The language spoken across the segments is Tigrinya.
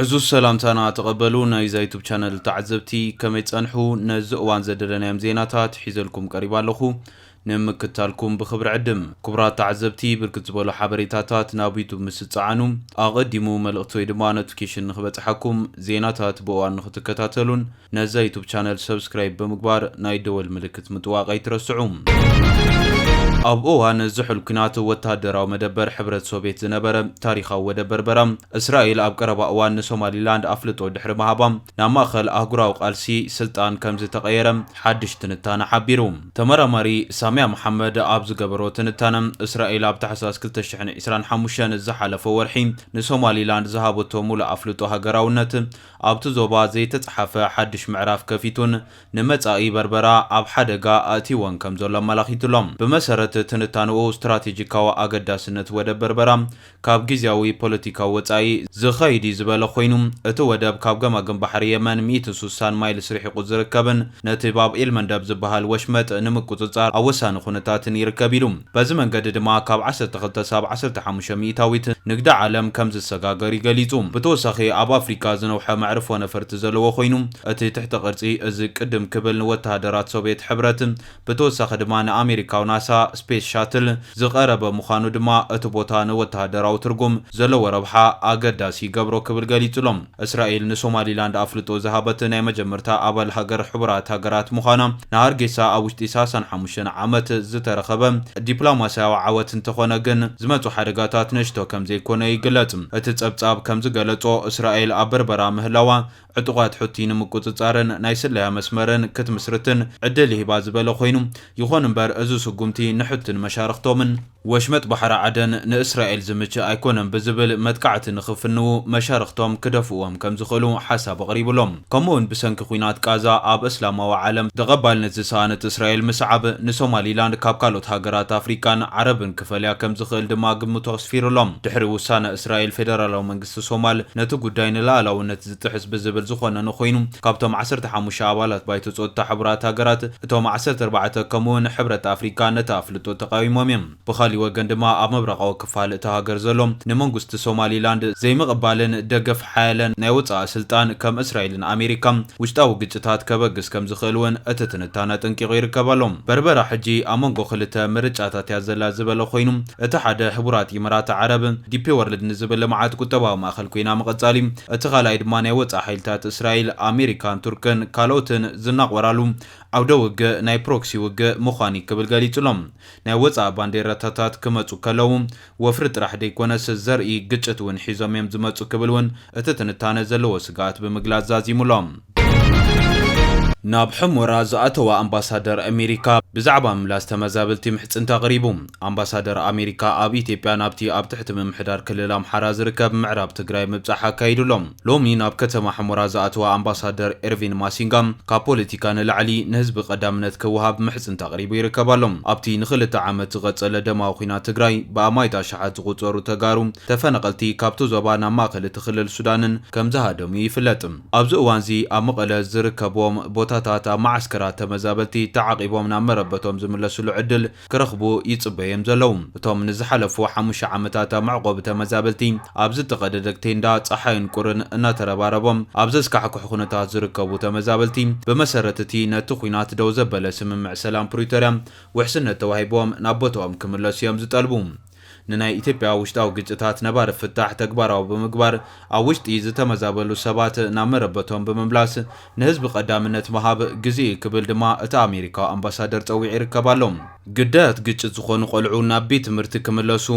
ዕዙዝ ሰላምታና ተቐበሉ ናይዛ ዩቱብ ቻነል ተዓዘብቲ ከመይ ጸንሑ ነዚ እዋን ዘደለናዮም ዜናታት ሒዘልኩም ቀሪባ ኣለኹ ንምክታልኩም ብክብሪ ዕድም ክቡራት ተዓዘብቲ ብርክት ዝበሉ ሓበሬታታት ናብ ዩቱብ ምስ ዝጸዓኑ ኣቐዲሙ መልእኽቲ ወይ ድማ ኖቲፊኬሽን ንክበጽሓኩም ዜናታት ብእዋን ንክትከታተሉን ነዛ ዩቱብ ቻነል ሰብስክራይብ ብምግባር ናይ ደወል ምልክት ምጥዋቅ ኣይትረስዑ። ኣብ እዋን ዝሑል ኲናት ወተሃደራዊ መደበር ሕብረት ሶቭየት ዝነበረ ታሪኻዊ ወደብ በርበራ፣ እስራኤል ኣብ ቀረባ እዋን ንሶማሊላንድ ኣፍልጦ ድሕሪ ምሃባ፣ ናብ ማእከል ኣህጉራዊ ቃልሲ ስልጣን ከምዝተቐየረ ሓድሽ ትንታነ ሓቢሩ። ተመራማሪ ሳሚያ መሓመድ ኣብ ዝገበሮ ትንታነ፣ እስራኤል ኣብ ታሕሳስ ክልተ ሽሕን ዕስራን ሓሙሽተን፣ ዝሓለፈ ወርሒ፣ ንሶማሊላንድ ዝሃበቶ ምሉእ ኣፍልጦ ሃገራውነት፣ ኣብቲ ዞባ ዘይተጽሓፈ ሓድሽ ምዕራፍ ከፊቱን ንመጻኢ በርበራ ኣብ ሓደጋ ኣእቲዎን ከም ዘሎ ኣመላኺቱ ኣሎ። ብመሰረት ትንታነኡ፣ ስትራቴጂካዊ ኣገዳስነት ወደብ በርበራ ካብ ግዝያዊ ፖለቲካዊ ወጻኢ ዝኸይድ'ዩ ዝበለ ኮይኑ፣ እቲ ወደብ ካብ ገማግም ባሕሪ የመን ሚእቲ ሱሳን ማይልስ ርሒቑ ዝርከብን ነቲ ባብ ኤል-መንደብ ዝበሃል ወሽመጥ ንምቁጽጻር ኣብ ወሳኒ ኩነታትን ይርከብ ኢሉ። በዚ መንገዲ ድማ ካብ ዓሰርተ ክልተ ክሳብ ዓሰርተ ሓሙሽተ ሚኢታዊት ንግዲ ዓለም ከም ዝሰጋገር ይገሊጹ። ብተወሳኺ ኣብ ኣፍሪቃ ዝነውሐ መዕርፎ ነፈርቲ ዘለዎ ኮይኑ፣ እቲ ትሕተ ቅርጺ እዚ ቅድም ክብል ንወተሃደራት ሶቭየት ሕብረት ብተወሳኺ ድማ ንኣሜሪካዊ ናሳ ስፔስ ሻትል ዝቐረበ ምዃኑ ድማ እቲ ቦታ ንወተሃደራዊ ትርጉም ዘለዎ ረብሓ ኣገዳሲ ይገብሮ ክብል ገሊጹ'ሎ። እስራኤል ንሶማሊላንድ ኣፍልጦ ዝሃበት ናይ መጀመርታ ኣባል ሃገር ሕቡራት ሃገራት ምዃና ንሃርጌሳ ኣብ ውሽጢ ሳሳን ሓሙሽተን ዓመት ዝተረኸበ ዲፕሎማስያዊ ዓወት እንተኾነ ግን ዝመጹ ሓደጋታት ንእሽቶ ከምዘይኮነ ይግለጽ። እቲ ጸብጻብ ከምዝገለጾ እስራኤል ኣብ በርበራ ምህላዋ ዕጡቓት ሑቲ ንምቁጽጻርን ናይ ስለያ መስመርን ክትምስርትን ዕድል ይህባ ዝበለ ኮይኑ ይኹን እምበር እዚ ስጉምቲ ንሑቲን መሻርኽቶምን ወሽመጥ ባሕሪ ዓደን ንእስራኤል ዝምችእ ኣይኮነን ብዝብል መጥቃዕቲ ንኽፍንዉ መሻርኽቶም ክደፍኡዎም ከም ዝኽእሉ ሓሳብ ኣቕሪቡ ኣሎ። ከምኡ'ውን ብሰንኪ ኲናት ቃዛ ኣብ እስላማዊ ዓለም ተቐባልነት ዝሰኣነት እስራኤል ምስዓብ ንሶማሊላንድ ካብ ካልኦት ሃገራት ኣፍሪቃን ዓረብን ክፈልያ ከም ዝኽእል ድማ ግምቱ ኣስፊሩ ኣሎ። ድሕሪ ውሳነ እስራኤል ፌደራላዊ መንግስቲ ሶማል ነቲ ጉዳይ ንልኣላውነት ጥሕስ ብዝብል ዝኾነኑ ኮይኑ፣ ካብቶም ዓሰርተ ሓሙሽተ ኣባላት ባይቶ ጸጥታ ሕቡራት ሃገራት፣ እቶም ዓሰርተ ኣርባዕተ ከምኡ'ውን ሕብረት ኣፍሪቃ ነቲ ኣፍልጦ ተቓዊሞም እዮም። ብኻሊእ ወገን ድማ ኣብ ምብራቓዊ ክፋል እታ ሃገር ዘሎ ንመንጉስቲ ሶማሊላንድ ዘይምቕባልን ደገፍ ሓያለ ናይ ወጻኢ ስልጣን ከም እስራኤልን ኣሜሪካን ውሽጣዊ ግጭታት ከበግስ ከም ዝኽእል እውን እቲ ትንታነ ኣጠንቂቑ ይርከብ ኣሎ። በርበራ ሕጂ ኣብ መንጎ ክልተ ምርጫታት እያ ዘላ ዝበለ ኮይኑ፣ እቲ ሓደ ሕቡራት ኢመራት ዓረብ፣ ዲፔ ወርልድ ንዝብል ልምዓት ቁጠባዊ ማእኸል ኮይና ምቕፃል እዩ። እቲ ካልኣይ ድማ ናይ ወፃኢ ሓይልታት እስራኤል፣ ኣሜሪካን ቱርክን ካልኦትን ዝናቖራሉ ዓውደ ውግእ ናይ ፕሮክሲ ውግእ ምዃን እዩ ክብል ገሊፁ'ሎ። ናይ ወፃኢ ባንዴራታታት ክመፁ ከለው ወፍሪ ጥራሕ ደይኮነስ ዘርኢ ግጭት እውን ሒዞም እዮም ዝመፁ ክብል እውን እቲ ትንታነ ዘለዎ ስግኣት ብምግላፅ ዛዚሙ'ሎ። ናብ ሑመራ ዝኣተወ ኣምባሳደር ኣሜሪካ ብዛዕባ ምምላስ ተመዛበልቲ ምሕፅንታ ኣቕሪቡ። ኣምባሳደር ኣሜሪካ ኣብ ኢትዮጵያ ናብቲ ኣብ ትሕቲ ምምሕዳር ክልል ኣምሓራ ዝርከብ ምዕራብ ትግራይ ምብፃሕ ኣካይዱ'ሎ። ሎሚ ናብ ከተማ ሑመራ ዝኣተወ ኣምባሳደር ኤርቪን ማሲንጋ ካብ ፖለቲካ ንላዕሊ ንህዝቢ ቀዳምነት ክወሃብ ምሕፅንታ ኣቕሪቡ ይርከብ ኣሎ። ኣብቲ ንኽልተ ዓመት ዝቐፀለ ደማዊ ኲናት ትግራይ ብኣማኢት ኣሽሓት ዝቑፀሩ ተጋሩ ተፈናቐልቲ ካብቲ ዞባ ናብ ማእኸል'ቲ ክልል ሱዳንን ከምዝሃደሙ ይፍለጥ። ኣብዚ እዋን'ዚ ኣብ መቐለ ዝርከቡዎም ቦታታት ኣብ መዓስከራት ተመዛበልቲ ተዓቚቦም ናብ መረበቶም ዝምለስሉ ዕድል ክረኽቡ ይጽበዩ'ዮም ዘለዉ። እቶም ንዝሓለፉ ሓሙሽተ ዓመታት ኣብ መዕቖቢ ተመዛበልቲ ኣብ ዝተቐደደ ቴንዳ ጸሓይን ቁርን እናተረባረቦም ኣብ ዘስካሕክሕ ኩነታት ዝርከቡ ተመዛበልቲ ብመሰረት'ቲ ነቲ ኹናት ደው ዘበለ ስምምዕ ሰላም ፕሪቶርያ ውሕስነት ተዋሂቡዎም ናብ ቦታኦም ክምለሱ'ዮም ዝጠልቡ። ንናይ ኢትዮጵያ ውሽጣዊ ግጭታት ነባሪ ፍታሕ ተግባራዊ ብምግባር ኣብ ውሽጢ ዝተመዛበሉ ሰባት ናብ መረበቶም ብምምላስ ንህዝቢ ቀዳምነት ምሃብ ግዜኡ እዩ ክብል ድማ እቲ ኣሜሪካዊ ኣምባሳደር ፀዊዑ ይርከብ ኣሎ። ግዳያት ግጭት ዝኾኑ ቆልዑ ናብ ቤት ትምህርቲ ክምለሱ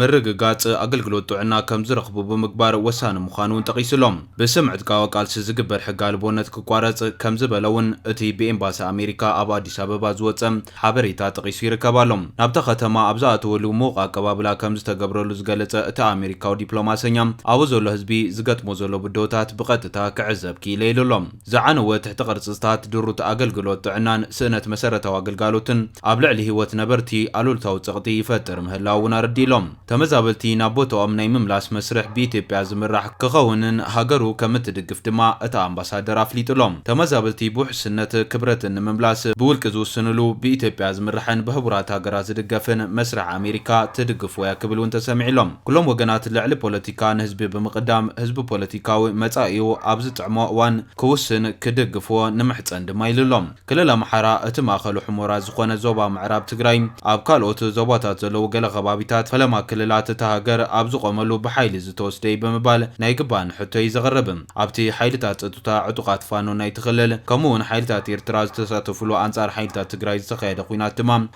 ምርግጋፅ፣ ኣገልግሎት ጥዕና ከምዝረኽቡ ብምግባር ወሳኒ ምዃኑ እውን ጠቒሱ ኣሎ። ብስም ዕጥቃዊ ቃልሲ ዝግበር ሕገ ኣልቦነት ክቋረፅ ከምዝበለ እውን እቲ ብኤምባሲ ኣሜሪካ ኣብ ኣዲስ ኣበባ ዝወፀ ሓበሬታ ጠቒሱ ይርከብ ኣሎ። ናብታ ከተማ ኣብ ዝኣተወሉ ምዉቕ ኣቀባብላ ከም ዝተገብረሉ ዝገለጸ እቲ ኣመሪካዊ ዲፕሎማሰኛ፣ ኣብኡ ዘሎ ህዝቢ ዝገጥሞ ዘሎ ብድሆታት ብቐጥታ ክዕዘብ ክኢለ ኢሉ ኣሎ። ዝዓነወ ትሕቲ ቅርጽታት፣ ድሩት ኣገልግሎት ጥዕናን ስእነት መሰረታዊ ኣገልጋሎትን ኣብ ልዕሊ ህይወት ነበርቲ ኣሉልታዊ ጸቕጢ ይፈጥር ምህላዉ እውን ኣረዲኡ'ሎ። ተመዛበልቲ ናብ ቦትኦም ናይ ምምላስ መስርሕ ብኢትዮጵያ ዝምራሕ ክኸውንን ሃገሩ ከምትድግፍ ድማ እታ ኣምባሳደር ኣፍሊጡ'ሎ። ተመዛበልቲ ብውሕስነት ክብረትን ንምምላስ ብውልቂ ዝውስንሉ ብኢትዮጵያ ዝምራሕን ብሕቡራት ሃገራት ዝድገፍን መስርሕ ኣሜሪካ ትድግፍዎ'ያ ክብል እውን ተሰሚዑ'ሎ። ኩሎም ወገናት ልዕሊ ፖለቲካ ንህዝቢ ብምቕዳም ህዝቢ ፖለቲካዊ መጻኢኡ ኣብ ዝጥዕሞ እዋን ክውስን ክድግፍዎ ንምሕጸን ድማ ኢሉ'ሎ። ክልል ኣምሓራ እቲ ማእኸሉ ሑሞራ ዝኾነ ዞባ ምዕራብ ትግራይ ኣብ ካልኦት ዞባታት ዘለዉ ገለ ከባቢታት ፈለማ ክልላት እታ ሃገር ኣብ ዝቖመሉ ብሓይሊ ዝተወስደ እዩ ብምባል ናይ ይግባእኒ ሕቶ እዩ ዘቕርብ። ኣብቲ ሓይልታት ፀጥታ ዕጡቓት ፋኖ ናይቲ ክልል ከምኡ እውን ሓይልታት ኤርትራ ዝተሳተፉሉ ኣንፃር ሓይልታት ትግራይ ዝተኻየደ ኹናት ድማ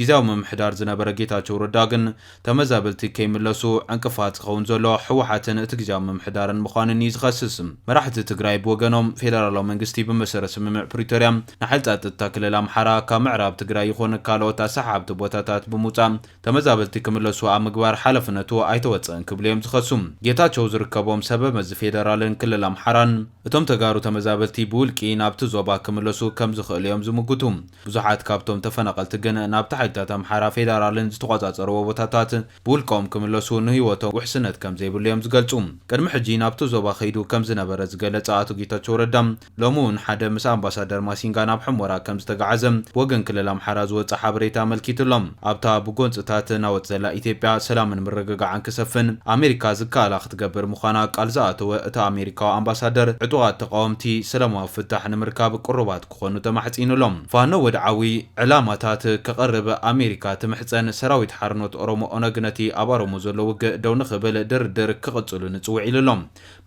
ግዝያዊ ምምሕዳር ዝነበረ ጌታቸው ረዳ ግን ተመዛበልቲ ከይምለሱ ዕንቅፋት ዝኸውን ዘሎ ህወሓትን እቲ ግዝያዊ ምምሕዳርን ምዃንን እዩ ዝኸስስ። መራሕቲ ትግራይ ብወገኖም ፌደራላዊ መንግስቲ ብመሰረት ስምምዕ ፕሪቶርያ ንሓይሊ ፃጥታ ክልል ኣምሓራ ካብ ምዕራብ ትግራይ ይኹን ካልኦት ኣሰሓሓብቲ ቦታታት ብምውፃእ ተመዛበልቲ ክምለሱ ኣብ ምግባር ሓላፍነቱ ኣይተወፀእን ክብሉ እዮም ዝኸሱ። ጌታቸው ዝርከቦም ሰበ መዚ ፌደራልን ክልል ኣምሓራን እቶም ተጋሩ ተመዛበልቲ ብውልቂ ናብቲ ዞባ ክምለሱ ከምዝኽእሉ እዮም ዝምጉቱ። ብዙሓት ካብቶም ተፈናቐልቲ ግን ናብቲ ሓይልታት ኣምሓራ ፌደራልን ዝተቖጻጸርዎ ቦታታት ብውልቀኦም ክምለሱ ንህይወቶም ውሕስነት ከምዘይብሉ እዮም ዝገልጹ። ቅድሚ ሕጂ ናብቲ ዞባ ከይዱ ከምዝነበረ ዝገለጸ ኣቶ ጌታቸው ረዳ ሎሚ'ውን ሓደ ምስ ኣምባሳደር ማሲንጋ ናብ ሑመራ ከምዝተገዓዘ ብወገን ክልል ኣምሓራ ዝወጽእ ሓበሬታ ኣመልኪቱ'ሎ። ኣብታ ብጎንጽታት ናወጥ ዘላ ኢትዮጵያ ሰላምን ምርግጋዕን ክሰፍን ኣሜሪካ ዝከኣላ ክትገብር ምዃና ቃል ዝኣተወ እቲ ኣሜሪካዊ ኣምባሳደር ዕጡቓት ተቓወምቲ ሰላማዊ ፍታሕ ንምርካብ ቅሩባት ክኾኑ ተማሕጺኑ ኣሎ። ፋኖ ወድዓዊ ዕላማታት ከቕርብ ኣሜሪካ ትምሕጸን፣ ሰራዊት ሓርኖት ኦሮሞ፣ ኦነግ፣ ነቲ ኣብ ኣሮሞ ዘሎ ውግእ ደው ንክብል ድርድር ክቕጽሉ ንጽውዕ ኢሉ ኣሎ።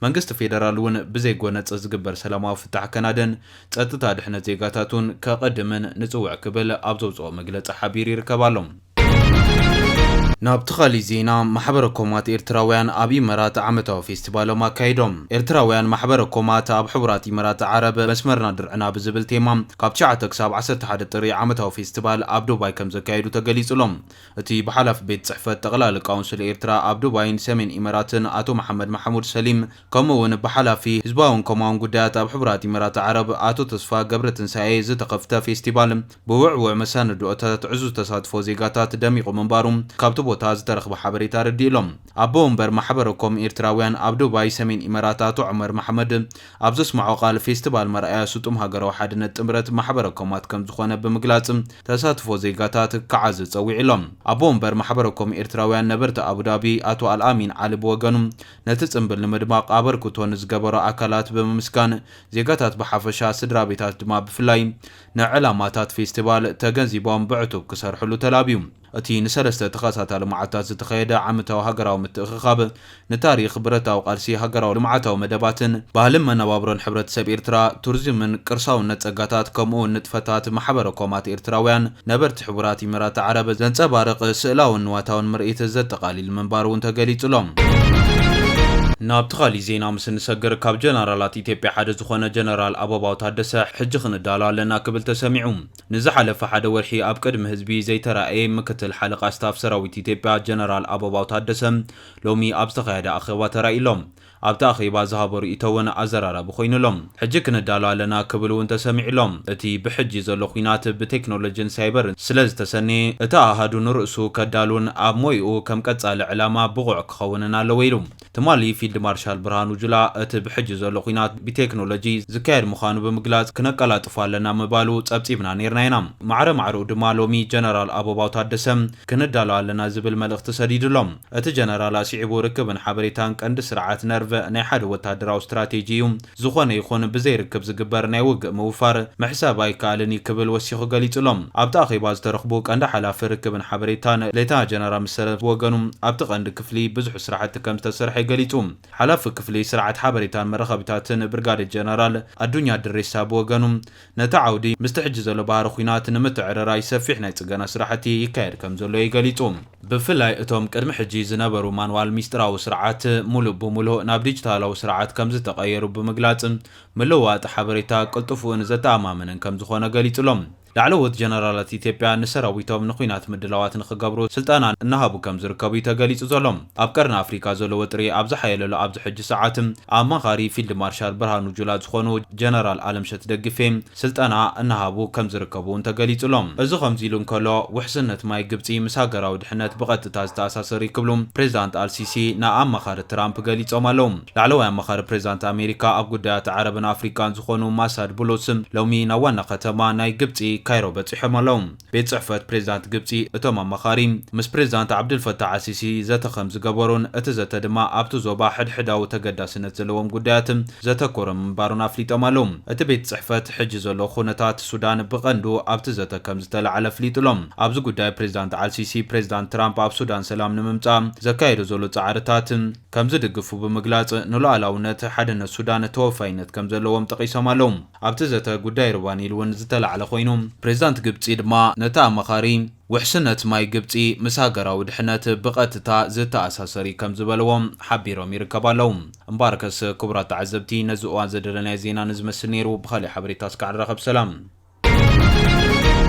መንግስቲ ፌደራል እውን ብዘይ ጎነጽ ዝግበር ሰላማዊ ፍታሕ ከናድን ጸጥታ ድሕነት ዜጋታቱን ከቐድምን ንጽውዕ ክብል ኣብ ዘውጽኦ መግለጺ ሓቢሩ ይርከብ ኣሎ። ናብቲ ካሊእ ዜና ማሕበረ ኮማት ኤርትራውያን ኣብ ኢመራት ዓመታዊ ፌስቲቫሎም ኣካይዶም። ኤርትራውያን ማሕበረ ኮማት ኣብ ሕቡራት ኢመራት ዓረብ መስመርና ድርዕና ብዝብል ቴማ ካብ ትሽዓተ ክሳብ ዓሰርተ ሓደ ጥሪ ዓመታዊ ፌስቲቫል ኣብ ዱባይ ከምዘካየዱ ተገሊጹ'ሎ። እቲ ብሓላፊ ቤት ጽሕፈት ጠቕላሊ ካውንስል ኤርትራ ኣብ ዱባይን ሰሜን ኢመራትን ኣቶ መሓመድ ማሕሙድ ሰሊም ከምኡ'ውን ብሓላፊ ህዝባውን ኮማውን ጉዳያት ኣብ ሕቡራት ኢመራት ዓረብ ኣቶ ተስፋ ገብረትንሳኤ ዝተኸፍተ ፌስቲቫል ብውዕዉዕ መሰንድኦታት ዕዙዝ ተሳትፎ ዜጋታት ደሚቑ ምንባሩ ካብቲ ቦታ ዝተረኽበ ሓበሬታ ኣረዲኡ ኣሎ። ኣቦ ወንበር ማሕበረ ኮም ኤርትራውያን ኣብ ዱባይ ሰሜን ኢመራት ኣቶ ዑመር መሓመድ ኣብ ዘስመዖ ቃል ፌስቲቫል መርኣያ ስጡም ሃገራዊ ሓድነት ጥምረት ማሕበረ ኮማት ከምዝኾነ ብምግላጽ ተሳትፎ ዜጋታት ክዓዝዝ ጸዊዑ ኣሎ። ኣቦ ወንበር ማሕበረ ኮም ኤርትራውያን ነበርቲ ኣቡዳቢ ኣቶ ኣልኣሚን ዓሊ ብወገኑ ነቲ ጽምብል ንምድማቕ ኣበርክቶ ንዝገበሩ ኣካላት ብምምስጋን ዜጋታት ብሓፈሻ ስድራቤታት ድማ ብፍላይ ንዕላማታት ፌስቲቫል ተገንዚቦም ብዕቱብ ክሰርሕሉ ተላብዩ። እቲ ንሰለስተ ተኸታታሊ መዓልታት ዝተኸየደ ዓመታዊ ሃገራዊ ምትእኽኻብ፣ ንታሪኽ፣ ብረታዊ ቃልሲ፣ ሃገራዊ ልምዓታዊ መደባትን ባህልን መነባብሮን ሕብረተሰብ ኤርትራ፣ ቱሪዝምን ቅርሳውነት ጸጋታት ከምኡ'ውን ንጥፈታት ማሕበረ-ኮማት ኤርትራውያን ነበርቲ ሕቡራት ኢሚራት ዓረብ ዘንጸባርቕ ስእላውን ንዋታውን ምርኢት ዘጠቓሊል ምንባሩ'ውን ተገሊጹ'ሎ። ናብቲ ካሊእ ዜና ምስ እንሰግር፣ ካብ ጀነራላት ኢትዮጵያ ሓደ ዝኾነ ጀነራል ኣበባው ታደሰ ሕጂ ክንዳሎ ኣለና ክብል ተሰሚዑ። ንዝሓለፈ ሓደ ወርሒ ኣብ ቅድሚ ህዝቢ ዘይተራእየ ምክትል ሓለቓ ስታፍ ሰራዊት ኢትዮጵያ ጀነራል ኣበባው ታደሰ ሎሚ ኣብ ዝተኻየደ ኣኼባ ተራእዩ ኣሎ። ኣብቲ ኣኼባ ዝሃቦ ርእይቶ እውን ኣዘራራቢ ኮይኑ ኣሎ። ሕጂ ክንዳሎ ኣለና ክብል እውን ተሰሚዑ ኣሎ። እቲ ብሕጂ ዘሎ ኲናት ብቴክኖሎጂን ሳይበርን ስለዝተሰነየ እቲ ኣሃዱ ንርእሱ ከዳሉን ኣብ ሞይኡ ከም ቀጻሊ ዕላማ ብቑዕ ክኸውንን ኣለዎ ኢሉ። ትማሊ ፊልድ ማርሻል ብርሃኑ ጁላ እቲ ብሕጂ ዘሎ ኲናት ብቴክኖሎጂ ዝካየድ ምዃኑ ብምግላጽ ክነቀላጥፎ ኣለና ምባሉ ጸብጺብና ኔርና ኢና። ማዕረ ማዕረኡ ድማ ሎሚ ጀነራል ኣበባው ታደሰ ክንዳሎ ኣለና ዝብል መልእኽቲ ሰዲዱ ኣሎ። እቲ ጀነራል ኣስዒቡ ርክብን ሓበሬታን ቀንዲ ስርዓት ነርቭ ናይ ሓደ ወተሃደራዊ ስትራቴጂ እዩ፣ ዝኾነ ይኹን ብዘይ ርክብ ዝግበር ናይ ውግእ ምውፋር ምሕሳብ ኣይከኣልን እዩ ክብል ወሲኹ ገሊጹ'ሎ። ኣብቲ ኣኼባ ዝተረኽቡ ቀንዲ ሓላፊ ርክብን ሓበሬታን ሌተና ጀነራል መሰለ ብወገኑ ኣብቲ ቀንዲ ክፍሊ ብዙሕ ስራሕቲ ከምዝተሰርሐ ገሊጹ። ሓላፊ ክፍሊ ስርዓት ሓበሬታን መራኸቢታትን ብርጋዴር ጀነራል ኣዱኛ ድሬሳ ብወገኑ ነቲ ዓውዲ ምስቲ ሕጂ ዘሎ ባህሪ ኲናት ንምትዕርራይ ሰፊሕ ናይ ጽገና ስራሕቲ ይካየድ ከምዘሎ እዩ ገሊጹ። ብፍላይ እቶም ቅድሚ ሕጂ ዝነበሩ ማንዋል ሚስጥራዊ ስርዓት ሙሉእ ብሙሉእ ናብ ዲጂታላዊ ስርዓት ከምዝተቐየሩ ብምግላጽ፣ ምልውዋጥ ሓበሬታ ቅልጡፍን ዘተኣማምንን ከምዝኾነ ገሊጹ'ሎ። ላዕለዎት ጀነራላት ኢትዮጵያ ንሰራዊቶም ንኲናት ምድላዋት ንኽገብሩ ስልጠና እናሃቡ ከምዝርከቡ እዩ ተገሊጹ ዘሎ። ኣብ ቀርኒ ኣፍሪካ ዘሎ ወጥሪ ኣብ ዝሓየለሉ ኣብዚ ሕጂ ሰዓት፣ ኣማኻሪ ፊልድ ማርሻል ብርሃኑ ጁላ ዝኾኑ ጀነራል ኣለምሸት ደግፌ ስልጠና እናሃቡ ከምዝርከቡ እውን ተገሊፁ'ሎ። እዚ ከምዚ ኢሉ እንከሎ፣ ውሕስነት ማይ ግብፂ ምስ ሃገራዊ ድሕነት ብቐጥታ ዝተኣሳሰር እዩ ክብሉ ፕሬዚዳንት ኣልሲሲ ንኣማኻሪ ትራምፕ ገሊፆም ኣለው። ላዕለዋይ ኣማኻሪ ፕሬዚዳንት ኣሜሪካ ኣብ ጉዳያት ዓረብን ኣፍሪካን ዝኾኑ ማሳድ ቡሉስ ሎሚ ናብ ዋና ከተማ ናይ ግብፂ ካይሮ በፂሖም ኣለው። ቤት ጽሕፈት ፕሬዝዳንት ግብጺ እቶም ኣማኻሪ ምስ ፕሬዝዳንት ዓብደልፈታሕ ኣልሲሲ ዘተ ከምዝገበሩን እቲ ዘተ ድማ ኣብቲ ዞባ ሕድሕዳዊ ተገዳስነት ዘለዎም ጉዳያት ዘተኮረ ምንባሩን ኣፍሊጦም ኣለው። እቲ ቤት ጽሕፈት ሕጂ ዘሎ ኩነታት ሱዳን ብቀንዱ ኣብቲ ዘተ ከምዝተላዕለ ኣፍሊጡ'ሎ። ኣብዚ ጉዳይ ፕሬዝዳንት ኣልሲሲ ፕሬዝዳንት ትራምፕ ኣብ ሱዳን ሰላም ንምምጻእ ዘካይዶ ዘሎ ጻዕርታት ከምዝድግፉ ብምግላጽ ንሉኣላውነት ሓድነት ሱዳን ተወፋይነት ከምዘለዎም ጠቂሶም ኣለው። ኣብቲ ዘተ ጉዳይ ሩባ ኒል እውን ዝተላዕለ ኮይኑ፣ ፕሬዚዳንት ግብፂ ድማ ነቲ ኣማኻሪ ውሕስነት ማይ ግብፂ ምስ ሃገራዊ ድሕነት ብቐጥታ ዝተኣሳሰር እዩ ከም ዝበልዎ ሓቢሮም ይርከባ ኣለው። እምበኣርከስ ክቡራት ተዓዘብቲ ነዚ እዋን ዘደለናዮ ዜና ንዝመስል ነይሩ፣ ብኻሊእ ሓበሬታ እስካዕ ንራኸብ ሰላም።